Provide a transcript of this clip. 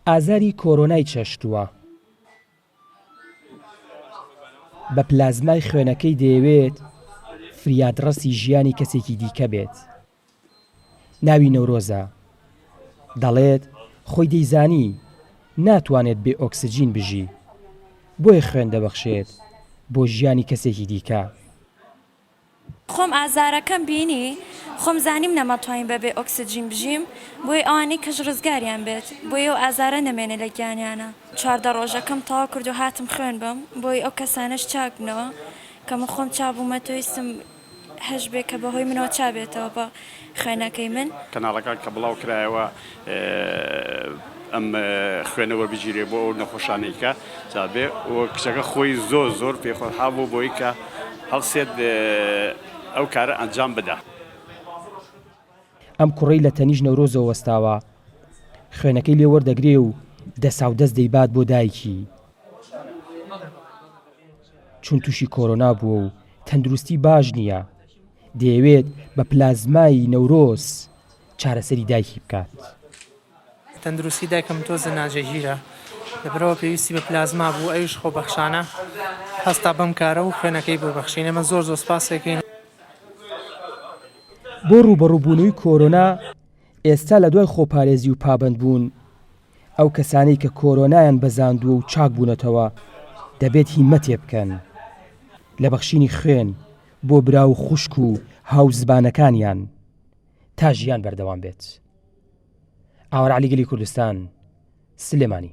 ئازاری کۆرۆنای چەشتووە. بە پلازمای خوێنەکەی دەیەوێت فریادڕەسی ژیانی کەسێکی دیکە بێت. ناوی نەورۆزە. دەڵێت خۆی دەیزانی ناتوانێت بێ ئۆکسجین بژی. بۆیە خوێن دەبەخشێت بۆ ژیانی کەسێکی دیکە. خۆم ئازارەکەم بینی خۆم زانیم نەمەتوانی بە بێ ئۆکسجین بژیم بۆیە ئەوانەی کەش ڕزگاریان بێت بۆی ئەو ئازارە نەمێنێ لە گیانیانە چواردە ڕۆژەکەم تەواو کردو هاتم خوێن بم بۆی ئەو کەسانەش چاک بنەوە کە من خۆم چا بومەتەوە ویستم هەش بێ کە بە هۆی منەوە چا بێتەوە بە خوێنەکەی من. کەناڵەکان کە بڵاو کرایەوە ئەم خوێنە وەربگیرێ بۆ ئەو نەخۆشانەی کە جابێ و کچەکە خۆی زۆر زۆر پێ خۆشحاڵ بوو بۆی کە هەڵسێت ئەو کارە ئەنجام بدا. ئەم کوڕەی لە تەنیشت نەورۆزەوە وەستاوە خوێنەکەی لێ وەردەگرێ و دەساو دەست دەیبات بۆ دایکی چون توشی کۆرۆنا بووە و تەندروستی باش نیە. دەیەوێت بە پلازمای نەورۆز چارەسەری دایکی بکات. تەندروستی دایکم تۆزێ ناجێگیرە، لەبەرئەوە پێویستی بە پلازما بوو، ئەویش خۆبەخشانە هەستا بەم کارە و خوێنەکەی بۆ بەخشین، ئێمە زۆر زۆر سپاسیەکەین. بۆ ڕووبەڕووبوونەوی کۆرۆنا، ئێستا لەدوای خۆپارێزی و پابەندبوون، ئەو کەسانەی کە کۆرۆنایان بەزاندووە و چاک بوونەتەوە دەبێت هیمەتێ بکەن لە بەخشینی خوێن بۆ برا و خوشک و هاوزبانەکانیان تا ژیان بەردەوام بێت. ئاوەرعلی گەلی کوردستان سلێمانی